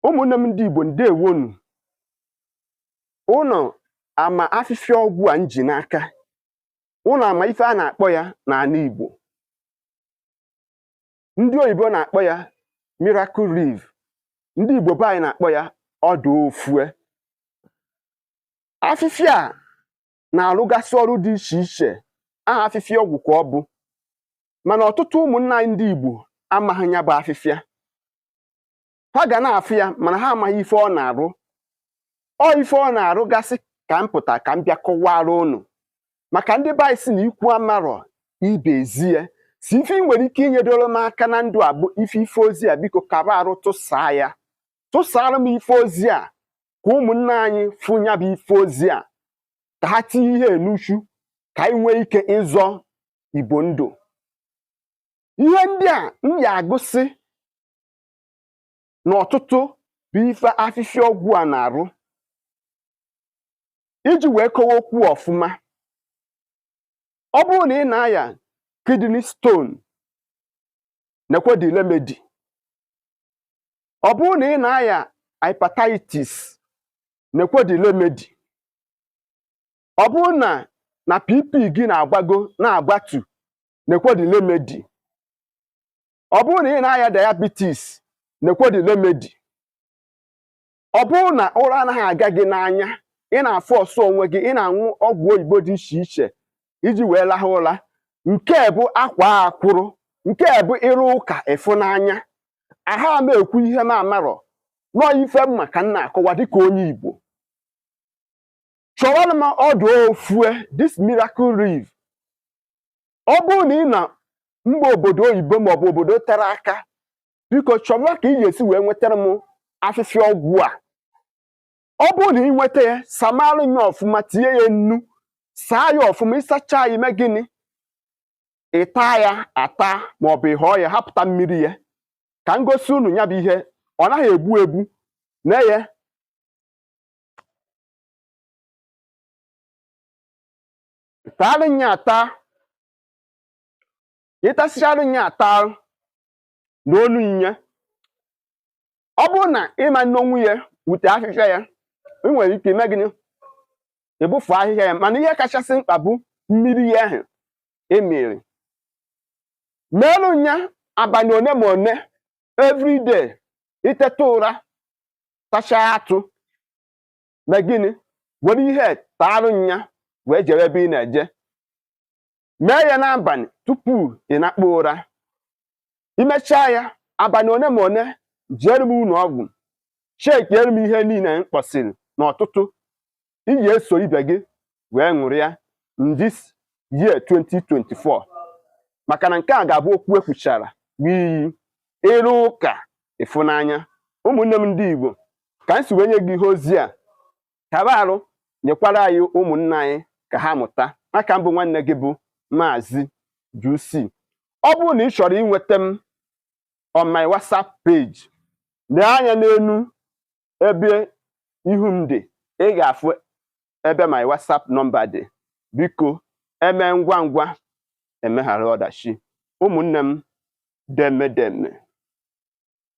ụmụnne m ndị Igbo ndewonu ụnụ ama afịfịa ọgwụ a m ji n'aka ụnụ ama ife a na-akpọ ya n'anị Igbo ndị oyibo na-akpọ ya miracle leaf ndị Igbo be anyị na-akpọ ya ọdụ ofue afịfịa a na-arụgasị ọrụ dị iche iche aha afịfịa ọgwụ ka ọ bụ mana ọtụtụ ụmụnna anyị ndị Igbo amaghị ya bụ afịfịa ha ga na-afụ ya mana ha amaghị ife ọ na-arụ ọ ife ọ na-arụ gasị ka m pụta ka m bịa kọwara ụnụ maka ndị be anyị sị na ikwu amarọ ibe ezie sọ ife ị nwere ike inyedoro m aka na ndụ a bụ ife ife ozi a biko kaba arụ tụsaa ya tụsara m ife ozi a ka ụmụnne anyị fụ ya bụ ife ozi a ka ha tinye ihe n'uchu ka anyị nwee ike ịzọ igbo ndụ ihe ndị a m ya-agụsị n'ọtụtụ bụ ife afịfịa ọgwụ a na-arụ iji wee kọwaa okwu ọfụma ọ bụrụ na ị na-aya kidney stone nekwe the remedy ọ bụrụ na ị na-aya hepatitis nekwe the remedy ọ bụrụ na na BP gị na-agbago na-agbatu nekwe the remedy ọ bụrụ na ị na-aya diabetes nekwe the remedy ọ bụrụ na ụra anaghị aga gị n'anya ị na-aforce onwe gị ị na-aṅụ ọgwụ oyibo dị iche iche iji wee lahụ ụra nke a bụ akwaa akwụrụ nke a bụ ị rụọ ụka ị fụ n'anya aha m ekwu ihe m amarọ na ọ ife m ma ka m na-akọwa dịka onye Igbo chọọrọ m ọdụ ofue this miracle leaf ọ bụrụ na ị nọ mba obodo oyibo maọbụ obodo tere aka biko chọba ka ị ga-esi wee nwetara m afịfịa ọgwụ a ọ bụrụ na ị nweta ya samaara ya ọfụma tinye ya nnu saa ya ọfụma ị sachaa ya i mee gịnị ị taa ya ata ma ọ bụ ị hịọ ya hapụta mmiri ya ka m gosi unu ya bụ ihe ọ naghị egbu egbu nee ya taarụ ya ata ị tasịchara ya ata noorụ nya ọ bụrụ na ị ma-enonwu ya wute afịfịa ya ị nwere ike ime gịnị ịbụfu ahịhịa ya mana ihe kachasị mkpa bụ mmiri ya ahụ i miri meelu nya abalị one ma one everyday i teta ụra tachaa atụ mee gịnị were ihe taarụ nya wee jere ebe ị na-eje mee ya n'abalị tupu ị nakpuo ụra i mechaa ya abalị one ma one jeere m ụlọ ọgwụ chekiere m ihe niile m kpọsịrị n'ọtụtụ ị ga-eso ibe gị wee ṅụrịa in this year 2024 maka na nke a ga-abụ okwu e kwuchara enweghị ịrụ ụka ịfụnanya ụmụnne m ndị Igbo ka m si wee nye gị ihe ozi a kaba arụ nyekwara anyị ụmụnna anyị ka ha mụta aka m bụ nwanne gị bụ maazị Jusi ọ bụrụ na ị chọrọ inweta m on my WhatsApp page lee anya n'elu ebe ihu m dị ị ga-afụ ebe my WhatsApp nọmba dị biko eme ngwa ngwa emeghara ọdachi ụmụnne m deeme deeme